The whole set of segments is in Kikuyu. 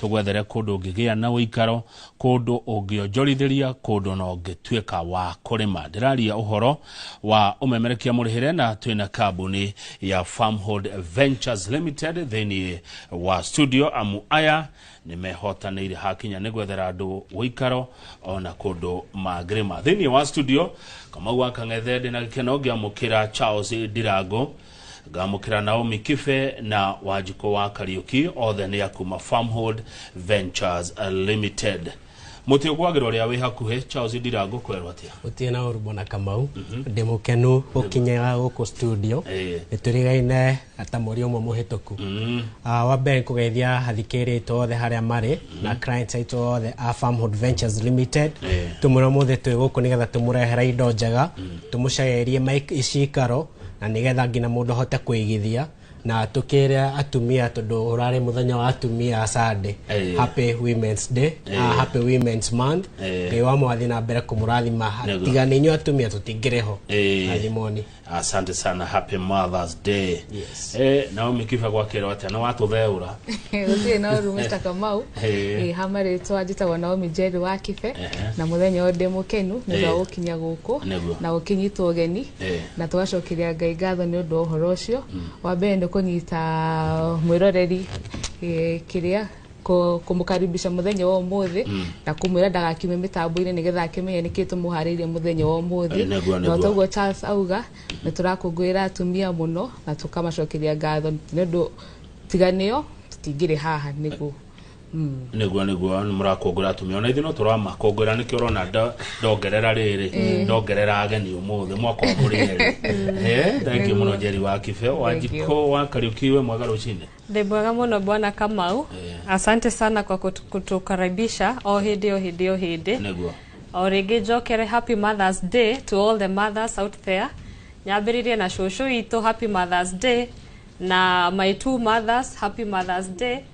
tũgwethere kũndũ ũngĩgĩa na ũikaro kũndũ ũngĩonjorithĩria kũndũ na ũngĩtuĩka wa kũrĩma ndĩraria ũhoro wa ũmemerekia mũrĩhĩre na twĩna kambuni ya farmhold ventures limited thĩinĩ wa studio amu aya nĩ mehotanĩire hakinya nĩ gwethera andũ ũikaro ona kũndũ mangĩrĩma thĩinĩ wa studio kamau akang'ethe ndĩna gĩkeno ngĩamũkĩra charles ndirango Ngamũkĩra Naomi Kibe na Wanjikũ wa Kariũki othe nĩ a kuma Farmhold Ventures Limited. Mũtĩ ũgwagĩra ũrĩa wĩ hakuhĩ Charles Ndira ngũkwerwo atĩa? Gũtirĩ na ũru Bwana Kamau, ndĩ mũkenu gũkinyĩra gũkũ studio. Eh. Nĩtũrigaine na ta mweri ũmwe mũhĩtũku. Ah, Wa mbere nĩkũgeithia athikĩrĩria aitũ othe harĩa marĩ na clients aitũ othe a Farmhold Ventures Limited. Eh. Tũmwĩra ũmũthĩ twĩ gũkũ nĩgetha tũmũrehere indo njega, tũmũcaĩrie maik- cikaro na nigetha ngina mundu ahote kuigithia na tukire atumia tondu urari muthenya wa atumia Sunday Eh. happy women's day Eh. ah, happy women's month Eh. ngai wa mwathi na mbere kumurathima Nĩguo. tiga ninyu atumia tutingiriho Eh. athimoni asante sana happy mothers day Yes. eh, naomi kiba gwakirwo atia na watutherura gũtirĩ na ũru Mr. Kamau Eh. Eh, ha marĩtwa njĩtagwo Naomi Njeri wa Kibe Ehe. na mũthenya ũyũ ndĩ mũkenu nĩ ũndũ wa Eh. gũkinya gũkũ Nĩguo. na gũkĩnyitwo ũgeni Eh. na tũgacokeria ngai ngatho nĩ ũndũ wa ũhoro ũcio wa mbere nĩ kũnyita mwĩroreri eh, kĩrĩa kũ- kũmũkaribisha mũthenya wa ũmũthĩ na kũmwĩra ndagakiume mĩtambo-inĩ nĩgetha akĩmenye nĩkĩ tũmũharĩirie mũthenya wa ũmũthĩ Eh, nĩguo, na nĩguo. toguo charles auga nĩ tũrakũngũĩra atumia mũno na tũkamacokeria ngatho nĩ ũndũ tiganĩo tũtingĩrĩ haha nĩguo niguo niguo nĩ mũrakũngũĩra atumia ona ithuĩ no tũramakũngũĩra nĩkĩo ũrona ndo- ndongerera rĩrĩ ndongerera ageni ũmũthĩ mwaka wa mũrĩ erĩ Eh, thengiũ mũno njeri wa kibe wa Thank you. njiko wa kariũki we mwega rũcinĩ Ndĩ mwega mũno bwana Kamau. Asante sana kwa kutu- kutukaribisha o hĩndĩ o hĩndĩ o hĩndĩ. niguo O rĩngĩ njokere happy Mother's Day to all the mothers out there. Nyambĩrĩrie na cũcũ itũ happy Mother's Day na my two mothers happy Mother's Day.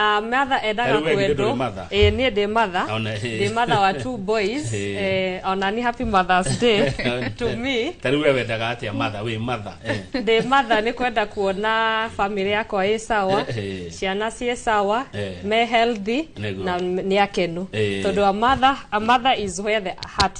Ah, matha endaga Rĩu we githĩ kwendwo ndũrĩ matha? Eh, niĩ ndĩ matha Ona- ndĩ matha wa two boys Eh. Eh, ona ni happy mothers day to me ta rĩu we wendaga atĩa matha wĩ matha eh. ndĩ matha nĩ kwenda kuona bamĩrĩ yakwa ĩ sawa Eh, eh. ciana ciĩ sawa Eh. me healthy Nĩguo. na nĩ akenu Eh. tondũ a mother, a mother is where the heart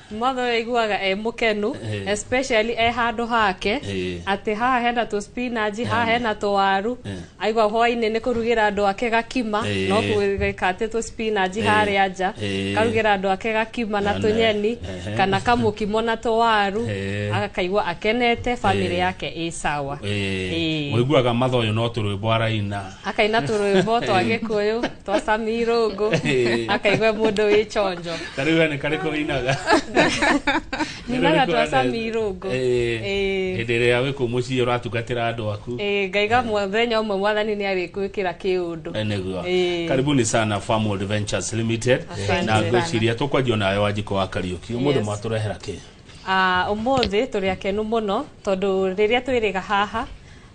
mother ũyũ aiguaga e mũkenu Eh. especially e handũ hake Eh. atĩ haha hena tũ spinach haha hena tũwaru Eh. aigua hwainĩ nĩ kũrugĩra andũ ake gakima Eh. no gwĩka atĩ tũ spinach harĩa nja Eh. karugĩra andũ ake gakima na Ana. tũnyeni Ehe. kana kamũkimo na tũwaru Eh. akaigua akenete famĩlĩ Eh. yake ĩ sawa Eh. Eh. mũiguaga matha ũyũ no tũrwĩmbo araina akaina tũrwĩmbo twa gĩkũyũ twacamia irũngũ akaigua mũndũ wĩ conjo ta rä u nä karä kå inaga ninaga twacamia irũngũ Ĩĩ. hä ndä ä rä a wä kå må ciä å ratugatä ra andå aku Ĩĩ, ngaiga mũthenya ũmwe mwathani nĩ arĩkwĩkĩra kĩũndũ nĩguo Ĩĩ. karibuni sana Farm Adventures Limited Asante na sana. ngwĩciria tũkwanjia nayo wanjiko wa kariũki ũmũthĩ Yes. mwatũrehera kĩ Ah, ũmũthĩ tũrĩ akenu mũno tondũ rĩrĩa twĩrĩga haha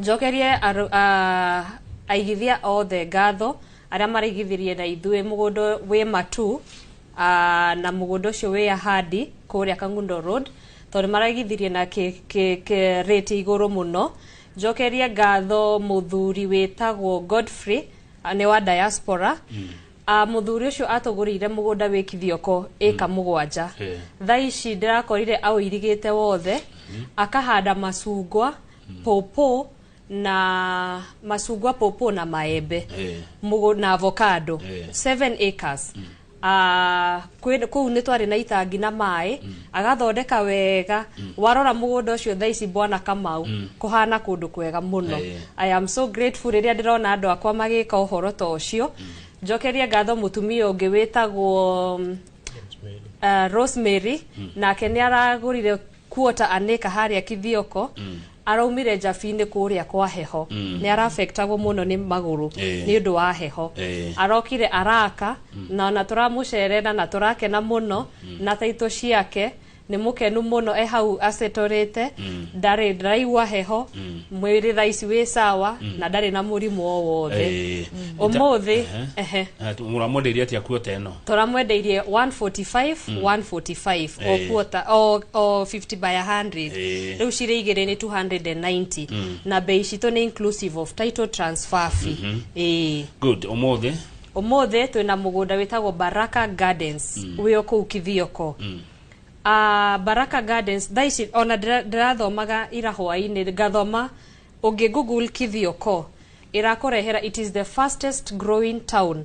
Njokerie arũ, a, aigithia othe ngatho arĩa maraigithirie na ithuĩ mũgũnda wĩ matu a, na mũgũnda ũcio wĩ ahandi kũrĩa Kangundo Road tondũ maraigithirie na kĩ, kĩ, kĩ rate igũrũ mũno. Njokerie ngatho mũthuri wĩtagwo Godfrey nĩ wa Diaspora. Ah, mũthuri ũcio atũgũrĩire mũgũnda wĩ kithioko ĩka mũgwanja Eh. thaa ici ndĩrakorire aũirigĩte wothe akahanda macungwa pũpũ na macungwa pũpũ na maembe Eh. mũgũ na avocado Eh. 7 acres Ah, kwĩ- kũu nĩ twarĩ na itangi na maĩ agathondeka wega warora mũgũnda ũcio thaa ici bwana kamau kũhana kũndũ kwega mũno Eh. i am so grateful rĩrĩa ndĩrona andũ akwa magĩka ũhoro ta ũcio njokerie ngatho mũtumia ũngĩ wĩtagwo mm, uh, rosemary nake nĩ aragũrire kuota aneka harĩa kithioko mm. araumire njabi-inĩ kũrĩa kwa heho mm. nĩ arafektagwo mũno nĩ magũrũ Eh. nĩ ũndũ wa heho Eh. arokire araka mm. na ona tũramũcerera na tũrakena mũno mm. na taitũ ciake nĩ mũkenu mũno e hau acetorĩte mm. ndarĩ ndaraigua heho mm. mwĩrĩ thaici wĩ sawa mm. na ndarĩ na mũrimũ o wothe Eh, ũmũthĩ ehe mũramwenderia atia kuota ĩno toramwendeirie 145 145 o Eh. quarter o, o 50 by 100 Eh. riu cirĩ igĩrĩ nĩ 290 na bei citũ nĩ inclusive of title transfer fee eh good umuthi umuthi twina mugunda witagwo baraka gardens wi o kuu kithioko Ah, baraka gardens thaa ici ona ndĩra- ndĩrathomaga ira hwainĩ ngathoma ũngĩ google kithioko ĩrakũrehera it is the fastest growing town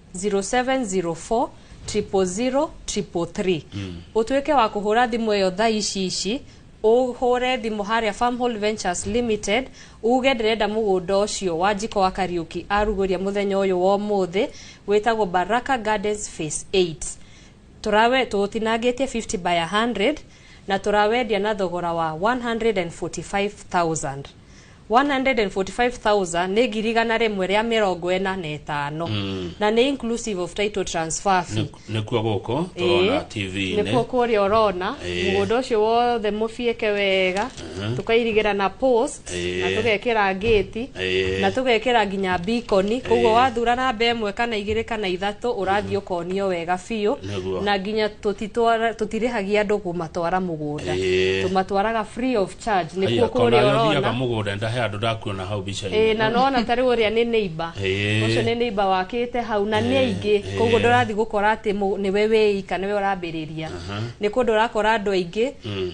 0704 000 333 utuike wa kuhura thimu iyo thaa ici ici uhure thimu haria farm hold ventures limited uge ndirenda mugunda ucio wa njiko wa kariuki aruguria muthenya uyu wa umuthi witagwo baraka gardens phase 8 Tũrawe tũũtinangĩtie 50 by 100 na tũrawendia na thogora wa 145,000. 145,000 nĩ ngiri igana rĩmwe rĩa mĩrongo ĩna na ĩtano na nĩ inclusive of title transfer fee. nĩkuo gũkũ tũrona Ĩĩ, tv-inĩ nĩkuo kũrĩa ũrona Ĩĩ. mũgũnda ũcio wothe mũbiĩke wega tũkairigĩra na post na Ĩĩ. tũgekĩra ngĩti Ĩĩ. na tũgekĩra nginya bikoni koguo Ĩĩ. wathura namba ĩmwe kana igĩrĩ kana ithatũ ũrathiĩ ũkonio wega biũ Nĩguo. na nginya tũtitwara- tũtirĩhagia andũ kũmatwara mũgũnda Ĩĩ. tũmatwaraga free of charge nĩkuo Aya, kũrĩa kona ũrona thiaga mũgũnda ndahe andũ ndakuona hau mbica-inĩ Ĩĩ, na nona tarĩ ũrĩa nĩ neighbor Ĩĩ. ũcio nĩ neighbor wakĩte hau na nĩ aingĩ Ĩĩ. koguo ndũrathiĩ gũkora atĩ mũ- nĩwe wĩika nĩwe ũrambĩrĩria Aha. nĩ kũndũ ũrakora andũ aingĩ Mm.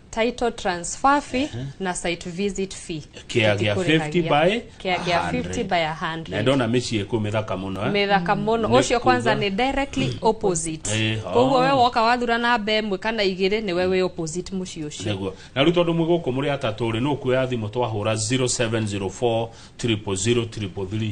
title transfer fee na site visit fee Kĩa gĩa 50 by kia gĩa 50 by a na 100 ndona mĩciĩ kũ mĩthaka mũno eh? mĩthaka mũno Nĩ ũcio kwanza kuga- nĩ directly opposite Eh, oh. koguo we woka wathura namba ĩmwe kana igĩrĩ nĩ we wĩ opposite mũciĩ ũcio nĩguo na rĩu tondũ mwĩ gũkũ mũrĩ atatũ rĩ nũkuoya thimũ twahũra 0704 000 333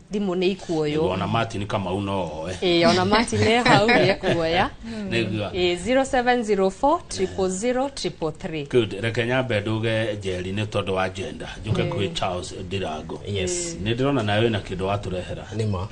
thimũ nĩ ikuoywo ona martin kamau no oe ĩĩ ona mati nĩ hau nĩ ekuoya nĩgua ĩĩ 0704 000 333 good reke nyambe nduge njeri nĩ tondũ wa jenda njuke kwĩ charles ndirango Yes. nĩ ndĩrona nawe wĩna kĩndũ watũrehera nĩma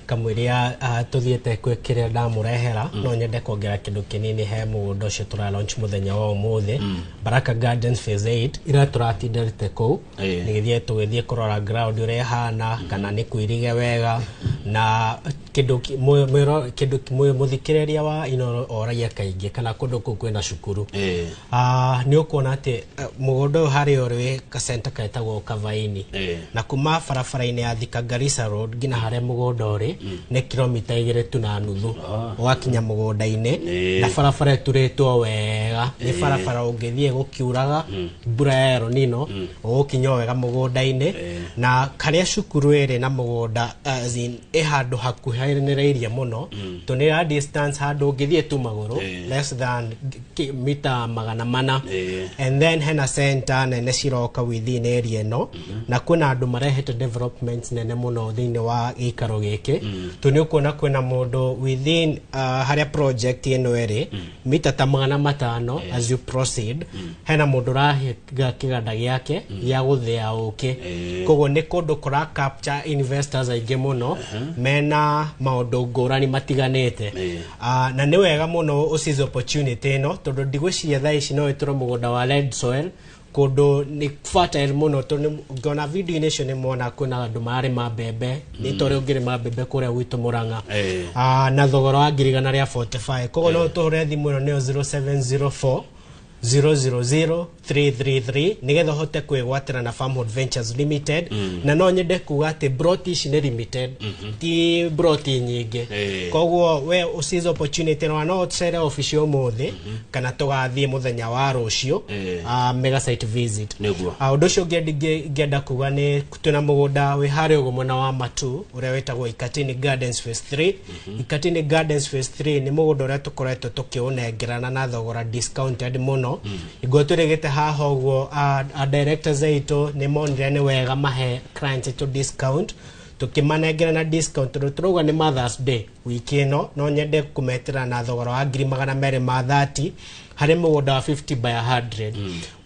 kamwĩria tũthiĩte kwĩ kĩrĩa ndamũrehera no nyende kuongera kĩndũ kĩnini he mũgũnda ũcio tũra launch mũthenya wa ũmũthĩ baraka gardens phase 8 ira tũratinda rĩte kũu Ĩĩ. nĩgĩthiĩ tũgĩthiĩ kũrora ground ũrĩa ĩhana kana nĩ kuirige wega na kĩndũ ki- mũ- mwĩro- kĩndũ ki- mũ- mũthikĩrĩria wa inoro oragia kaingĩ kana kũndũ kũu kwĩna cukuru Ĩĩ. Ah, nĩ ũkuona atĩ eh, mũgũnda ũyũ harĩa ũrĩ kasenta ketagwo kavaini Ĩĩ. na kuma barabara-inĩ ya thika garissa road nginya harĩa mũgũnda ũrĩ nĩ kilomita igĩrĩ tu na nuthu ũgakinya mũgũnda-inĩ Ĩĩ. na barabara ĩturĩtwo wega nĩ barabara ũngĩthiĩ gũkiuraga mbura ya El Nino gũgũkinya o wega mũgũnda-inĩ na karĩa cukuru ĩrĩ na mũgũnda as in, ĩ handũ hakuhanĩrĩirie mũno tondũ nĩ ya distance handũ ũngĩthiĩ tu magũrũ Eh. less than ki- mita magana mana Eh. and then hena center nene ciroka within area ĩno na kwĩna andũ marehete developments nene mũno thĩinĩ wa gĩikaro gĩkĩ tondũ nĩ ũkuona kwĩna mũndũ within uh, harĩa project ĩno ĩrĩ mita ta magana matano eh. as you proceed mm. hena mundu rahiga kiganda giake mm. gĩa guthia uki eh. koguo ni kundu kura capture investors aingi muno uh -huh. mena maundu ngurani matiganite eh. uh, na ni wega muno ucize opportunity ino tondu ndigwiciria thaa ici no iture mugunda wa red soil kũndũ nĩ fertile mũno tondũ nĩ- ngona video-inĩ icio nĩ mona kwĩna andũ mararĩma mbembe nĩ tondũ ũngĩrĩma mbembe kũrĩa gwitũ mũrang'a Eh. Ah, na thogora wa ngirigana rĩa 45 koguo no tũhũre thimũ ĩno nĩyo 0704 000333 nĩgetha ũhote kwĩgwatĩra na farmhold ventures limited na no nyende kuga atĩ broti ici nĩ limited ti broti nyingĩ Eh. koguo we ũsize opportunity na no ũcere obici ũmũthĩ kana tũgathiĩ mũthenya wa rũciũ Eh. ah, mega site visit Nĩguo. Ah, ũndũ ũcio ũngĩ ndingĩ- ngĩenda kuga nĩ twĩna mũgũnda wĩ harĩa ũguo mwena wa matu ũrĩa wĩtagwo ikatini gardens phase 3 ikatini gardens phase 3 nĩ mũgũnda ũrĩa tũkoretwo tũkĩũnengerana na thogora discounted mũno iguo tũrĩgĩte haha ũguo ah, ah, directors aitũ nĩ monire nĩ wega mahe clients aitũ discount tũkĩmanengera na discount tondũ tũrauga nĩ mothers day wiki ĩno no nyende kũmetĩra na thogora wa ngiri magana merĩ ma 30 harĩ mũgũnda wa 50 by 100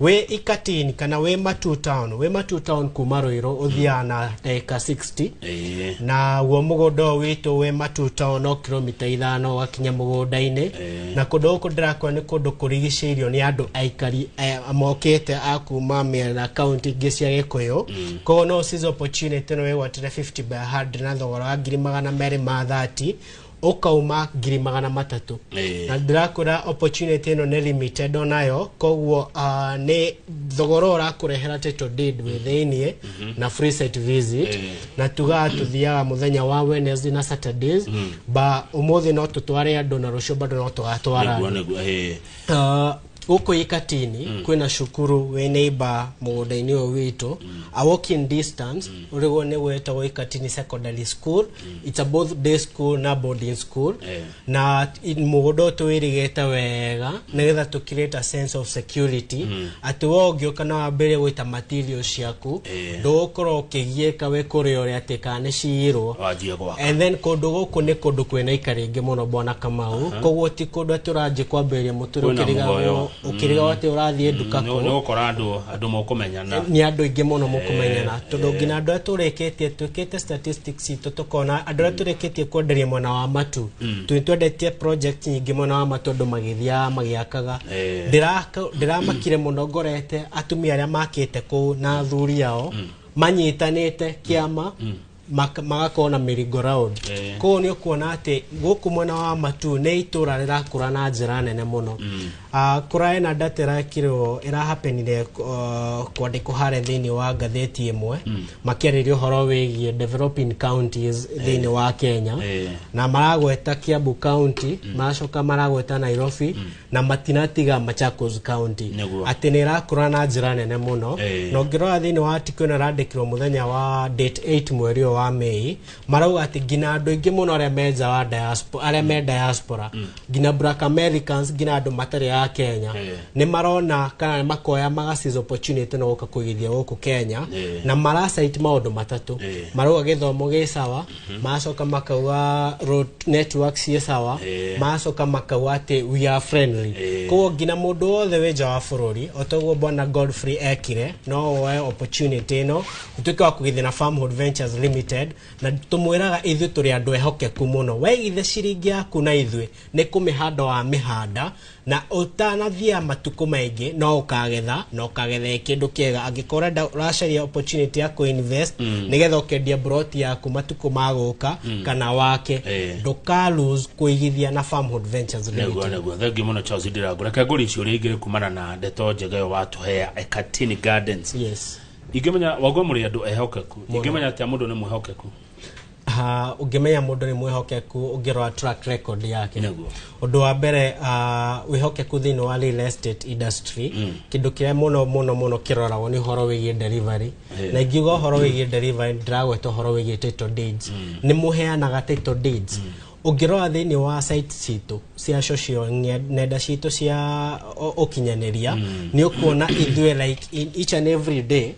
wĩ ikatini kana wĩ matu town wĩ matu town kuma rũirũ ũthiaga na ndagĩka 60 Eh, na guo mũgũnda ũyũ witũ wĩ matu town no kilomita ithano ũgakinya mũgũnda-inĩ na kũndũ gũkũ ndĩrakũra nĩ kũndũ kũrigicĩirio nĩ andũ aikari eh, mokĩte a kuma mĩena kaunti ingĩ cia gĩkũyũ Koguo no Sizo Pochinete nĩ wegwatire 50 by 100 na thogora wa ngiri magana merĩ ma 30 ũkauma ngiri magana matatũ Ĩĩ. na ndĩrakwĩra opportunity ĩno nĩ limited onayo koguo uh, nĩ thogora ũrakũrehera title deed wĩ thĩiniĩ na free site visit Ĩĩ. na tugaga tũthiaga mũthenya wa Wednesday na Saturdays ba ũmũthĩ no tũtware andũ na rũciũ bado no tũgatwara Nĩguo, andũ nĩguo, ĩĩ. Uh, gũkũ ikatini mm. kwĩna cukuru wĩ neighbor mũgũnda-inĩ ũyũ witũ mm. a walking distance mm. ũrĩguo nĩ gwetagwo ikatini secondary school mm. it's a both day school na boarding school Eh. na i- mũgũnda ũyũ tũwĩrĩgĩte wega mm. nĩgetha tũkirĩta sense of security mm. atĩ we ũngĩũka na wambĩrĩrie gũita material ciaku Eh. ndũgũkorwo ũkĩgiĩka wĩ kũrĩ ũrĩa atĩ kana nĩ ciirwo wanjie gwaka and then kũndũ gũkũ nĩ kũndũ kwĩna ika rĩngĩ mũno bwana kamau koguo ti kũndũ atĩ ũranjĩ kwambĩrĩria mũtũrĩ Kwĩna ũkĩrigagwo muoyo. ũkĩrigagwo atĩ ũrathiĩ nduka nĩ kũ nĩ gũkora andũ andũ mũkũmenyana nĩ andũ aingĩ mũno mũkũmenyana Eh, tondũ nginya andũ arĩa tũrĩkĩtie twĩkĩte statistics itũ tũkona andũ arĩa tũrĩkĩtie kwenderia mwena wa matu tũnĩ twendetie project nyingĩ mwena wa matu andũ magĩthiaga magĩakaga Eh. Ndĩraka- ndĩramakire mũno ngorete atumia arĩa makĩte kũu na athuri ao manyitanĩte kĩama maka- magakorwo na mĩringo round Eh. kũu nĩ ũkuona atĩ gũkũ mwena wa matu nĩ itũra rĩrakũra na njĩra nene mũno Ah, kũraĩ na ndata ĩrakirwo ĩrahapenire uh, kwandĩkwo harĩa thĩinĩ wa ngathĩti ĩmwe makĩarĩria ũhoro wĩgiĩ developing counties thĩinĩ wa kenya Eh. na maragweta kiambu county maracoka maragweta nairobi na matinatiga Machakos County Nĩguo. atĩ nä ĩrakũra na njä ra nene må no Eh. na ũngĩrora thä inä wa tikå ä no ĩrandäkirwo må thenya wa date 8 mweri å wa mei marauga atä nginya andå aingä må no arä a me nja wa diaspo- arĩa me diaspora nginya black americans nginya andå matarä a kenya Eh. nä marona kana nĩ makoya magacis opportunity no gũka kũigithia gũkũ kenya Eh. na maracite maũndũ matatũ Eh. marauga gĩthomo gĩ sawa Mhm. macoka makauga road network ciĩ sawa Eh. macoka makauga atĩ we are friendly Eh. koguo nginya mũndũ wothe wĩ nja wa bũrũri otoguo bwana godfrey ekire no woe opportunity ĩno ũtuĩke wa kũgithina farmhood ventures limited na tũmwĩraga ithuĩ tũrĩ andũ ehokeku mũno waigithe ciringi yaku na ithuĩ nĩ kũmĩhanda wa mĩhanda Na ũtanathia matukũ maingĩ no ũkagetha na ũkagethe kĩndũ kĩega angĩkorwo ũrenda ũracaria opportunity ya kuinvest nĩgetha ũkendia broti yaku matukũ ma gũka kana wake Eh. ndũka lose kũigithia na farmhood ventures Limited. Naguo naguo thengi muno Charles Ndirangu reke ngũri icio ũrĩa ingĩ kumana na ndeto njega ĩyo watũhea Ekatini Gardens yes ingĩmenya wagwa mũrĩ andũ ehokeku ingĩmenya atĩa mũndũ nĩ mwĩhokeku Ah, ũngĩmenya mũndũ nĩ mwĩhokeku ũngĩrora track record yake Nĩguo. ũndũ wa mbere ah, wĩhokeku thĩinĩ wa real estate industry kĩndũ kĩrĩa mũno mũno mũno kĩroragwo nĩ ũhoro wĩgiĩ delivery Eh. na ingiuga ũhoro wĩgiĩ delivery ndiragweta ũhoro wĩgiĩ title deeds nĩ mũheanaga title deeds ũngĩrora thĩinĩ wa site citũ cia social nge- nenda citũ cia o- ũkinyanĩria nĩ ũkuona ithuĩ like in each and every day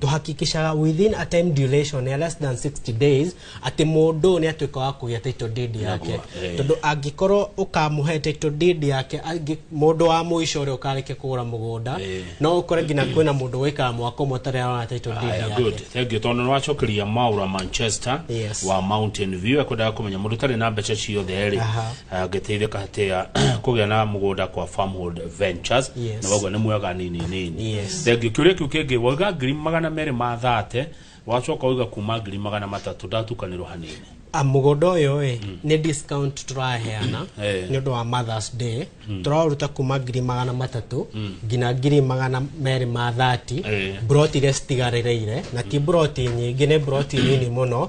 tũhakikishaga within a time duration ya less than 60 days atĩ mũndũ nĩ atuĩka wa kũgĩa title deed yake Nagwa, eh. tondũ angĩkorwo ũkamũhe title deed yake angĩ- mũndũ wa mũico ũrĩa ũkarĩkia kũgũra mũgũnda Eh. no ũkore nginya kwĩna mũndũ wĩkaga mwaka ũmwe ũtarĩ arona title deed Aya, yake good. Thank you. Tondũ nĩwacokeria Maura Manchester Yes. wa Mountain View ekwendaga kũmenya mũndũ ũtarĩ na mbeca ciothe rĩ Aha. Eh, ngĩteithĩka atĩa kũgĩa na mũgũnda kwa farmhold ventures Yes. na waguo nĩ mwega nini nini Yes. thengi kĩũria kĩu kĩngĩ wauga ngiri magana merĩ ma thate wacoka wauga kuma ngiri magana matatũ ndatukanĩrwo hanini Ah, mũgũnda ũyũ ĩ nĩ discount tũraheana Eh. nĩ ũndũ wa mothers day tũraũruta kuma ngiri magana matatũ nginya ngiri magana merĩ ma thati Eh. mburoti iria citigarĩrĩire na ti mburoti nyingĩ nĩ mburoti nini mũno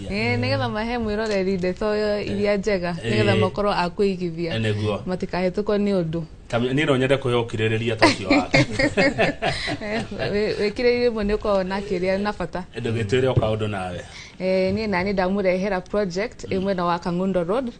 Eh, nĩgetha mahe mwĩroreri ndeto iria njega nĩgetha Eh. makorwo a kũigithia Eh, nĩguo. matikahĩtũkwo nĩ ũndũ Kamĩ- niĩ no nyende kwĩhe ũkirĩrĩria ta ũcio wake Eh, wĩ- wĩkĩrĩire imwe nĩ ũkoragwo na kĩrĩa na bata ndũgĩtwĩre o kaũndũ nawe Eh, niĩ nani ndamũrehera project ĩ mwena wa kangundo road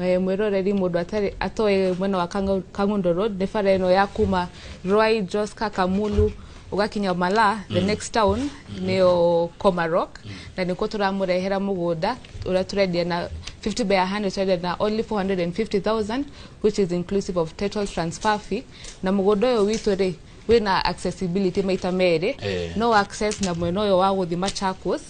Eh, mwĩroreri mũndũ atarĩ atoĩ mwena wa Kangu- kangundo road nĩ bara ĩno ya kuma rwai joska kamulu ũgakinya Omala the next town nĩyo Komarok na nĩkuo tũramũrehera mũgũnda ũrĩa tũrendia na 50 by 100 tũrendia na only 450,000 which is inclusive of title transfer fee na mũgũnda ũyũ witũ rĩ wĩna accessibility maita merĩ Eh. no access na mwena ũyũ wa gũthi Machakos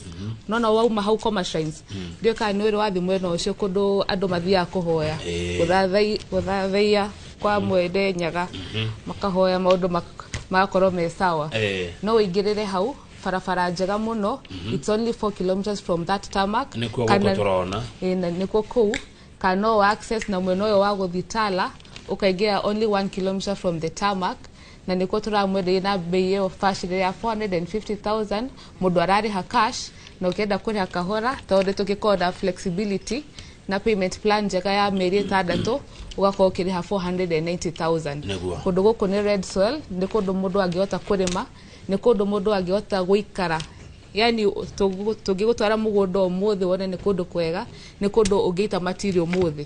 no no wauma hau Koma Shrines ndiũĩ kana nĩ ũrĩ wathi mwena ũcio kũndũ andũ mathiaga kũhoya Eh. gũthathai- gũthathaiya kwa mwene nyaga makahoya maundu mak- magakorwo me sawa Eh. no wĩingĩrĩre hau barabara njega mũno it's only 4 kilometers from that tarmac Nĩkuo gũkũ Kana- tũrona. Ĩĩ, na nĩkuo kũu kana no wa access na mwena ũyũ wa gũthiĩ tala ũkaingĩra only 1 kilometer from the tarmac na nĩkuo tũramwenderia na mbei ĩyo bacĩrĩ ya 450,000 mũndũ ararĩha cash na ũkĩenda kũrĩha kahora tondũ nĩ tũgĩkoragwo na flexibility na payment plan njega ya mĩeri ĩtandatũ ũgakorwo ũkĩrĩha 490,000 Nĩguo. kũndũ gũkũ nĩ red soil nĩ kũndũ mũndũ angĩhota kũrĩma nĩ kũndũ mũndũ angĩhota gũikara yani tũngĩgũtwara mũgũnda ũmũthĩ wone nĩ kũndũ kwega nĩ kũndũ ũngĩita matiri ũmũthĩ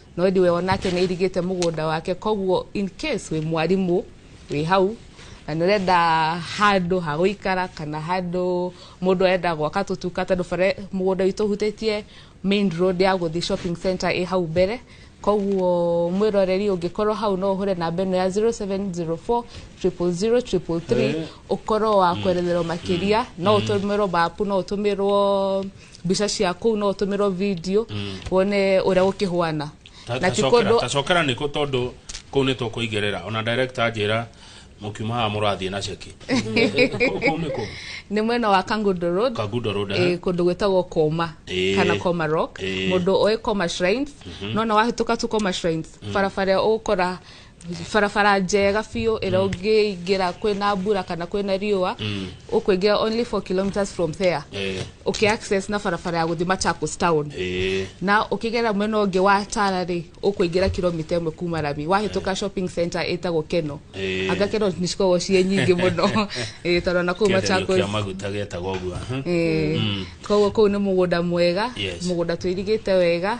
no ĩndĩ we onake nĩ airigĩte mũgũnda wake koguo in case wĩ mwarimũ wĩ hau na nĩ ũrenda handũ ha gũikara kana handũ mũndũ arenda gwaka tũtuka tondũ bara mũgũnda witũ ũhutĩtie main road ya gũthiĩ shopping center ĩ hau mbere koguo mwĩroreri ũngĩkorwo hau no ũhũre namba ĩno ya 0704 000 Eh. ũkorwo wa kweretherwo makĩria no ũtũmĩrwo mapu no ũtũmĩrwo mbica cia kũu no ũtũmĩrwo video wone ũrĩa gũkĩhwana Ta- na ti tacokera kũndũ tacokera nä kå tondå kå u nä tå kå ingä rä ra ona director anjä ra må kiuma haha må rathiä na ceki kå u nä kå nĩ mwena wa kangundo road kagundo rå eh, kũndũ gwĩtagwo koma Eh. kana koma rock Eh. mũndũ oĩ koma shrines nona wahĩtũka tu koma shrines barabara ĩyo ũgũkora barabara njega biũ ĩrĩa mm. ũngĩingĩra kwĩna mbura kana kwĩna riũa mm. ũkũingĩra only 4 kilometers from there eh. ũkĩ access na barabara ya gũthiĩ Machakos town eh. na ũkĩgera mwena ũngĩ wa Tala rĩ ũkũingĩra kilomita ĩmwe kuma Rami wahĩtũka eh. shopping center ĩtagwo Keno anga Keno nĩ cikoragwo ciĩ nyingĩ mũno tondũ na kũu Machakos koguo kũu nĩ mũgũnda mwega mũgũnda tũirigĩte wega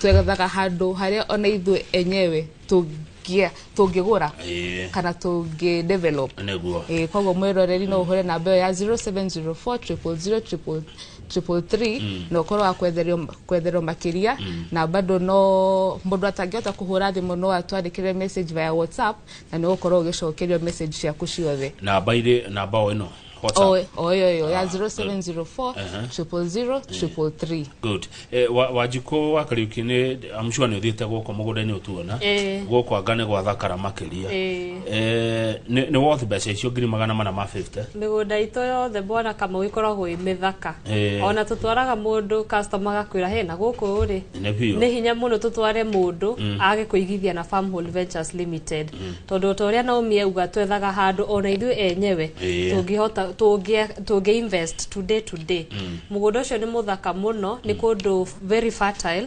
twegathaga handå harä a ona ithuä enyewe tångä gå ra Ĩĩ. kana tångä develop nĩguo Eh, koguo mwiroreri no uhure namba iyo ya 0704 na ukorwo wa kwetherwo- kwetherwo makiria na bado no mundu atangihota kuhura thimu no atwandikire message via whatsapp na ni ugukorwo ugicokerio message ciaku ciothe namba irĩ namba o ĩno WhatsApp. Oh, oh, yeah, yeah, yeah. Ah, 0704 triple zero triple three. Good. Eh, wa, wajiko wa kariuki ni I'm sure ni uthiite guko mugunda-ini utuona. Eh. Guko anga ni gwathakara makiria. Eh. Eh, ni, ni worth mbeca icio ngiri magana mana ma 50. mĩgũnda itũ yothe bwana kamau ĩkoragwo ĩ mĩthaka Ĩĩ. ona tũtwaraga mũndũ customer agakwĩra he na gũkũ rĩ Nĩ biũ. nĩ hinya mũno tũtware mũndũ age kũigithia na farm Hall ventures limited tondå o ta å rä a naomi auga twethaga handå ona ithuä enyewe Ĩĩ. tũngĩhota tũngĩ tũngĩ invest today today mũgũnda ũcio nĩ mũthaka mũno nĩ kũndũ very fertile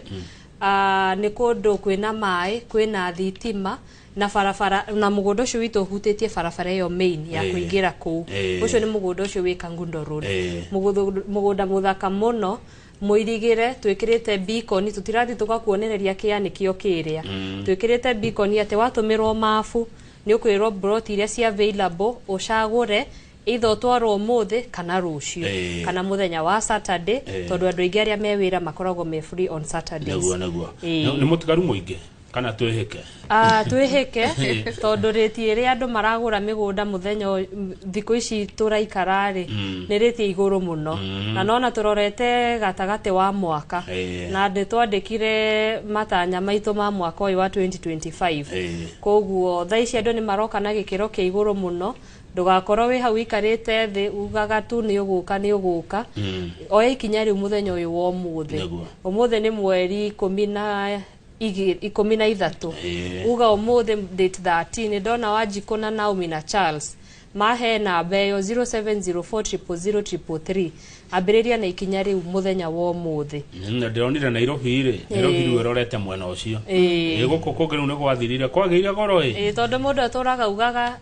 Ah, nĩ kũndũ kwĩna maĩ kwĩna thitima na barabara na mũgũnda ũcio witũ ũhutĩtie barabara ĩyo main ya Ĩĩ. kũingĩra kũu Ĩĩ. ũcio nĩ mũgũnda ũcio wĩ kangundo road Ĩĩ. Mũgũthũ- mũgũnda mũthaka mũno mwĩrigĩre twĩkĩrĩte bikoni tũtirathiĩ tũgakuonereria kĩa nĩkĩo kĩrĩa twĩkĩrĩte bikoni atĩ watũmĩrwo mabu nĩ ũkwĩrwo mburoti iria cia available ũcagũre either ũtwarwo ũmũthĩ kana rũciũ Ĩĩ. kana mũthenya wa saturday Ĩĩ. tondũ andũ aingĩ arĩa me wĩra makoragwo me free on saturdays naguo naguo Ĩĩ. nĩ mũtigaru mũingĩ kana twĩhĩke Ah, twĩhĩke tondũ rĩti ĩrĩa andũ maragũra mĩgũnda mũthenya ũyũ- m- thikũ ici tũraikara rĩ nĩ rĩti ya igũrũ mũno na nona tũrorete gatagatĩ wa mwaka Eh. na nĩ twandĩkire matanya maitũ ma mwaka ũyũ wa 2025 Eh. koguo thaa ici andũ nĩ maroka na gĩkĩro kĩa igũrũ mũno ndũgakorwo wĩ hau ikarĩte thĩ ugaga tu nĩ ũgũka nĩ ũgũka oya ikinya rĩu mũthenya ũyũ wa ũmũthĩ Nĩguo. ũmũthĩ nĩ mweri ikũmi na Igĩ- ikũmi na ithatũ Ĩĩ. uga ũmũthĩ date 13 nĩ ndona wanjikũ na naomi na charles mahe namba ĩyo 0704000333 ambĩrĩria na ikinya rĩu mũthenya wa ũmũthĩ na ndĩronire nairobi rĩ nairobi rĩu ĩrorete mwena ũcio Ĩĩ. Ĩĩ, gũkũ kũngĩ rĩu nĩ gwathirire kwagĩire goro ĩ Ĩĩ, tondũ mũndũ atũraga ugaga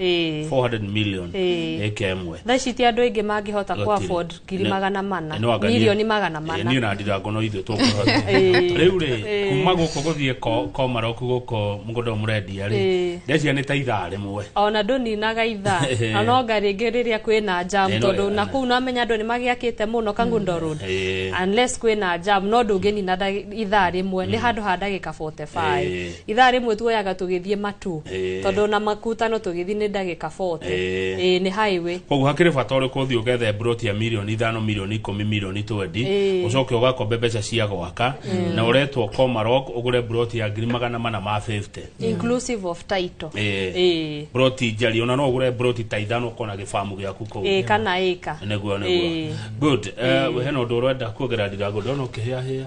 Ĩĩ. 400 million Ĩĩ. ĩka ĩmwe thaa ici ti andũ aingĩ mangĩhota Gũtirĩ. kwa afford ngiri Nĩ- magana mana Nĩ wanganie. milioni magana Eh, niĩ mana na ndirango no ithuĩ tũkũhota Ĩĩ. rĩu rĩ Ĩĩ. kuma gũkũ gũthiĩ ko- komaroku gũkũ mũgũnda ũyũ mũrendia rĩ Ĩĩ. ndeciria nĩ ta ithaa rĩmwe ona ndũninaga ithaa Ĩĩ. na no nga rĩngĩ rĩrĩa kwĩna jam Ĩĩ, no- tondũ na kuu namenya andũ nĩ magĩakĩte mũno kangundo road Ĩĩ. unless kwĩna jam no ndũngĩnina ndagĩ- ithaa rĩmwe nĩ handũ ha ndagĩka 45 Ĩĩ. Ithaa rĩmwe tuoyaga tũgĩthiĩ Matu Ĩĩ. tondũ ona Makutano tũgĩthiĩ nĩ ndagĩka 40. Ĩĩ. Ĩĩ nĩ highway. Koguo hakĩrĩ bata ũrĩkũ ũthiĩ ũgethe mburoti ya mirioni ithano, mirioni ikũmi, mirioni twendi, Ĩĩ. ũcoke ũgakombe mbeca cia gwaka, na ũretwo Komarok ũgũre mburoti ya ngiri magana mana ma 50? Inclusive of title. Ĩĩ. Ĩĩ. Mburoti njariĩ, ona no ũgũre mburoti ta ithano ũkona gĩbamu gĩaku kũu. Ĩĩ kana ĩka. Nĩguo, nĩguo. Ĩĩ. Good. Eh, hena ũndũ ũrenda kuongerera Ndirago, ndĩrona ũkĩhĩahĩa.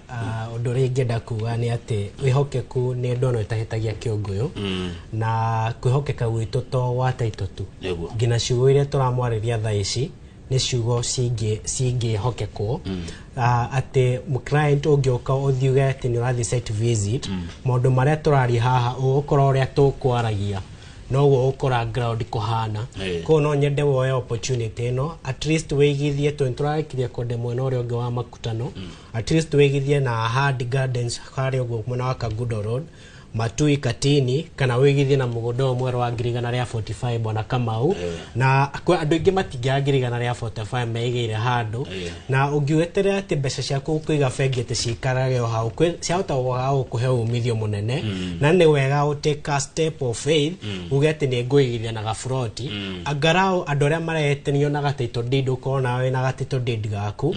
Ah, ũndũ ũrĩa ingĩenda kuga nĩ atĩ wĩhokeku nĩ ndono ĩtahĩtagia kĩũngũyũ na kwĩhokeka gwitũ to gwa taito tu Nĩguo. nginya ciugo iria tũramwarĩria thaa ici nĩ ciugo cingĩ- cingĩhokekwo Ah, atĩ client ũngĩũka ũthiuge atĩ nĩ ũrathiĩ site visit maũndũ marĩa tũraria haha ũgũkora ũrĩa tũkwaragia noguo ũgũkora ground kũhana Eh. koguo no nyende woe opportunity ĩno at least wĩigithie tondũ nĩtũrarĩkirie kwende mwena ũrĩa ũngĩ wa makutano At least wĩgithie na Ahadi Gardens harĩa ũguo mwena wa Kagudo Road, Matui Katini kana wĩgithie na mũgũnda ũyũ mwerũ wa ngiri igana rĩa 45 bwana Kamau na kwa andũ aingĩ matingĩaga ngiri igana rĩa 45 meigĩire handũ na ũngĩweterera atĩ mbeca ciaku kũiga bengi atĩ cikarage o hau kwĩ- ciahota gũga gũkũhe umithio mũnene na nĩ wega ũ take a step of faith uge atĩ nĩ ngũigithia na gaburoti angarao andũ arĩa maretanio na gataito deed ũkorwo nawe na gataito deed gaku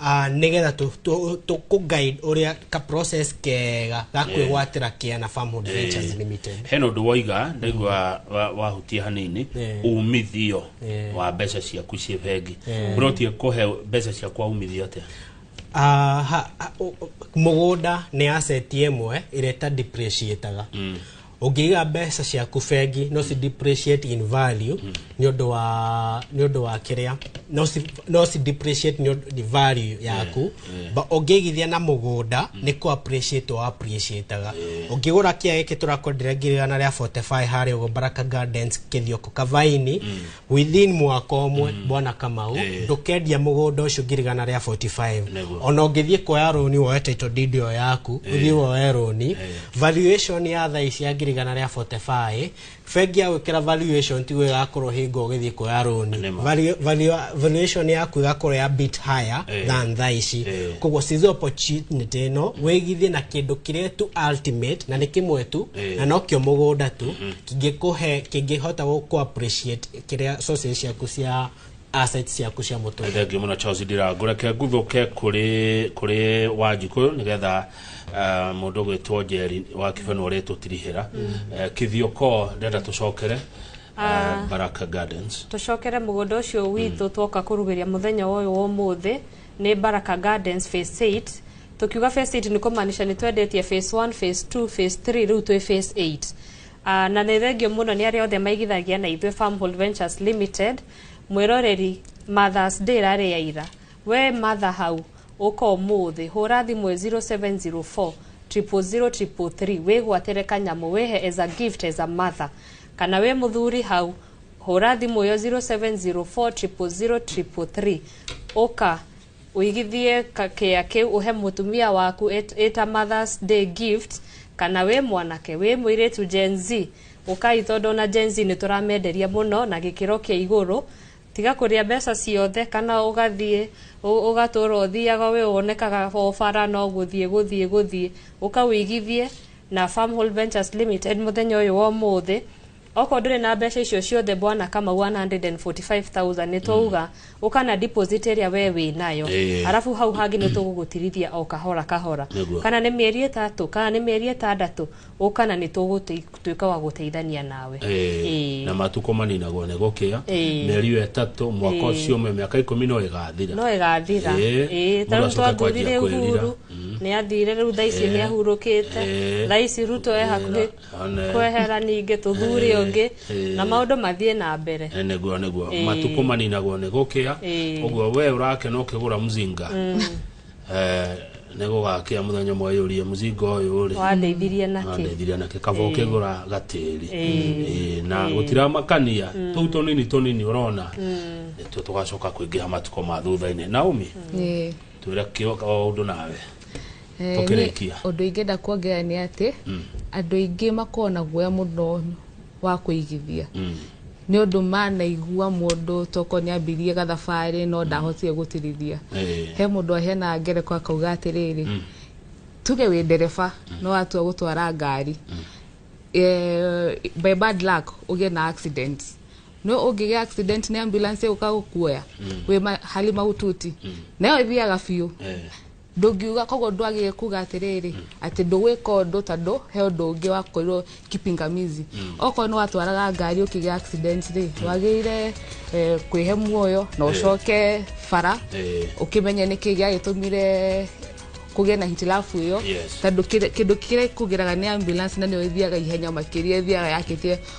Ah, nigetha tu- tu- tukuguide uria ka process kega ga kwigwatira kiana farm hood ventures limited hena å ndå waiga ndaigua wa- wahutia hanini Yeah. umithio Yeah. wa mbeca ciaku ciä bengi Yeah. å rotie kå he mbeca ciakwa umithio atä Ah, ha- ha- o- o- mũgũnda nĩ asset ĩmwe ĩrĩa ĩta depreciataga ũngĩiga mbeca ciaku bengi no ci depreciate in value nĩ ũndũ wa nĩ ũndũ wa kĩrĩa no ci no ci depreciate nĩ ũndũ- nĩ value yaku Ba- ũngĩigithia na mũgũnda nĩ kũ appreciate wa appreciataga ũngĩgũra kĩa gĩkĩ tũrakwenderia ngiri igana rĩa 45 harĩa ũguo Baraka Gardens kĩthioko kavaini within mwaka ũmwe bwana kamau Eh. ndũkendia mũgũnda ũcio ngirigana rĩa 45 Nĩguo. ona ũngĩthiĩ kuoya rũni woe title deed ĩyo yaku ũthiĩ woe rũni valuation ya thaa ici ya ngirigana rĩa 45 bengi ya gwĩkĩra valuation tiguo ĩgakorwo hingo ũgĩthiĩ kuoya rũni Nĩma. Valu- valu- valuation yaku ĩgakorwo ya bit higher Eh. than thaa ici Eh. koguo size opportunity ĩno wĩgithie na kĩndũ kĩrĩa tu ultimate na nĩ kĩmwe tu Eh. na nokĩo mũgũnda tu kĩngĩkũhe kĩngĩhota gũ- kũ appreciate kĩrĩa sources ciaku cia assets ciaku cia mũtũrĩre thengiå må no charles ndirangå reke nguthå ke kå rä wanjikå yå nä getha må ndå gwä two njeri wa kibeno å rä tå tirihä ra kä thiå ko ndenda tå cokere eh, baraka gardens tũcokere mũgũnda ũcio witũ twoka kũrugĩria mũthenya ũyũ wa ũmũthĩ Nĩ Baraka Gardens phase eight. Tũkiuga phase eight nĩ kũmaanisha nĩ twendetie phase one, phase two, phase three, rĩu twĩ phase eight. Ah, na nĩ thengio mũno nĩ arĩa othe maigithagia na ithuĩ Farmhold Ventures Limited. Mwĩroreri Mother's Day ĩrarĩ ya ira. We mother hau, ũka ũmũthĩ, hũra thimũ 0704 000 333 wĩgwatĩre kanyamũ wĩhe as a gift as a mother. Kana wĩ mũthuri hau, Hũra thimũ ĩyo 0704000333 ũka ũigithie ka- kĩa kĩu ũhe mũtumia waku ĩt- ĩta mothers day gift kana wĩ mwanake wĩ mũirĩtu gen z ũkai tondũ ona gen z nĩ tũramenderia mũno na gĩkĩro kĩa igũrũ tiga kũrĩa mbeca ciothe kana ũgathiĩ ũ- ũgatũra ũthiaga wĩ wonekaga o bara no gũthiĩ gũthiĩ gũthiĩ ũka ũigithie na farm Hall ventures limited mũthenya ũyũ wa ũmũthĩ okorwo ndũrĩ na mbeca icio ciothe bwana kamau 145000 nĩ twauga ũka na deposit ĩrĩa we wĩ nayo Ĩĩ. arabu hau hangĩ nĩ tũgũgũtirithia o kahora kahora Nĩguo. kana nĩ mĩeri ĩtatũ kana nĩ mĩeri ĩtandatũ ũka na nĩ tũgũtuĩka wa gũteithania nawe Eh, Ĩĩ. na matukå maninagwo nä gå kä a Ĩĩ. mä eri ä yo ätatå mwaka Ĩĩ. å cio mä mä ka ikå mi no ä gathira no ĩgathira Ĩĩ. Ĩĩ, Mũndũ tarĩu acoke twathurire kwanjia kwĩrira. uhuru nĩ athire rĩu thaa ici Ĩĩ. nĩ ahurũkĩte Ĩĩ. thaa ici ruto e hakuhĩ Ĩĩ. One. kwehera ningĩ tũthure Eh, ũngĩ eh. na maũndũ mathiĩ na mbere Eh, nĩguo nĩguo Ĩĩ. matukũ maninagwo nĩ gũkĩa Ĩĩ. ũguo we ũrakena ũkĩgũra mzinga Eh, nĩ gũgakĩa mũthenya ũmwe yũrie mzinga ũyũ rĩ wandeithirie nakĩ andeithirie nake kaba ũkĩgũra gatĩri Ĩĩ, na gũtiramakania tũu tũnini tũnini ũrona nĩtuo tũgacoka kũingĩha matukũ ma thutha-inĩ naomi Ĩĩ. twĩre kĩo- ũndũ nawe Eh, niĩ Tũkĩrĩkia. ũndũ ingĩenda kuongerera nĩ atĩ andũ aingĩ makoragwo na guoya mũno wa kũigithia nĩ ũndũ manaigua mũndũ toko nĩ ambirie gathabarĩ no ndahotire gũtirithia Eh. he mũndũ aheanaga ngereko akauga atĩrĩrĩ tuge wĩ ndereba no watua gũtwara ngari eh, by bad luck ũgĩe na accident no ũngĩgĩa accident nĩ ambulance ũka gũkuoya wĩ ma- hali mahututi nayo ĩthiaga biũ Eh. ndũngiuga koguo ndwagĩrĩire kuga atĩrĩrĩ atĩ ndũgwĩka ũndũ tondũ he ũndũ ũngĩ wakorirwo kipingamizi okorwo nĩ watwaraga ngari ũkĩgĩa accident rĩ wagĩrĩire eh, kwĩhe muoyo na ũcoke bara Eh. ũkĩmenye nĩkĩ gĩagĩtũmire kũgĩa na hitilafu ĩyo Yes. tondũ kĩrĩ- kĩndũ kĩrĩa kũgeraga nĩ ambulance na nĩyo ĩthiaga ihenya makĩria ĩthiaga yakĩtie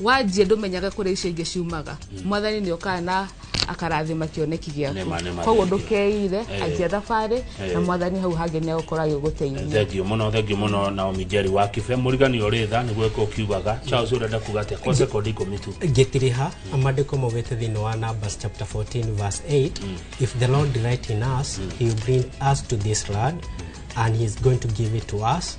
wanjie ndũmenyage kũrĩa icio ingĩ ciumaga hmm. mwathani nĩ okaga na akarathima kĩoneki gĩaku koguo ndũkeire eh. anjia thabarĩ eh. na mwathani hau hangĩ nĩ agũkorwo agĩgũteithia thengio mũno thengio mũno na omijeri wa kibe mũrigani ũrĩ tha nĩguo ĩka ũkiugaga charles ũrenda kuga atĩa kwa sekondi ikũmi tu ngĩtiriha hmm. amandĩko maugĩte thĩinĩ wa numbers chapter 14 verse 8 hmm. if the lord delight in us he will bring us to this land and he is going to give it to us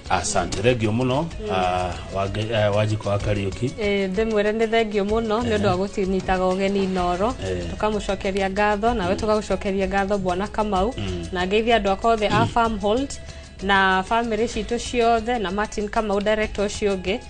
asante thengio muno ah, Wange- eh, wanjiko wa kariuki Ĩĩ, ndĩmwĩre nĩ thengio mũno nĩ ũndũ wa gũtinyitaga ũgeni inoro Eh. tũkamũcokeria ngatho nawe tũgagũcokeria ngatho bwana kamau na ngeithia andũ akwa othe a farmhold na bamĩrĩ citũ ciothe na martin kamau director ũcio ũngĩ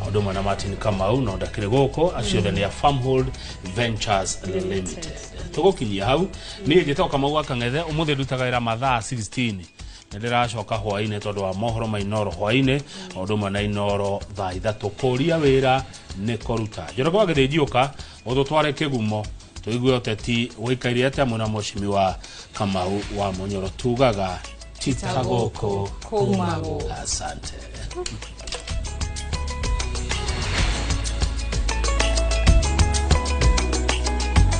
na ũndũ ũmwe na martin kamau no ndakĩrĩ gũkũ acio othe nĩ a farmhold ventures limited tũgũkinyia hau niĩ njĩtagwo kamau wa kang'ethe ũmũthĩ ndutaga wĩra mathaa 16 nĩ ndĩracoka hwainĩ tondũ wa mohoro ma inoro hwainĩ na ũndũ ũmwe na inoro thaa ithatũ kũria wĩra nĩ kũruta njoroge wa gĩthĩnjiũka mũtũtware kĩgumo tũigue ũteti gũikaire atĩa mwĩna mũcimi wa kamau wa mũnyoro tugaga tita gũkũ Kuma gũkũ. asante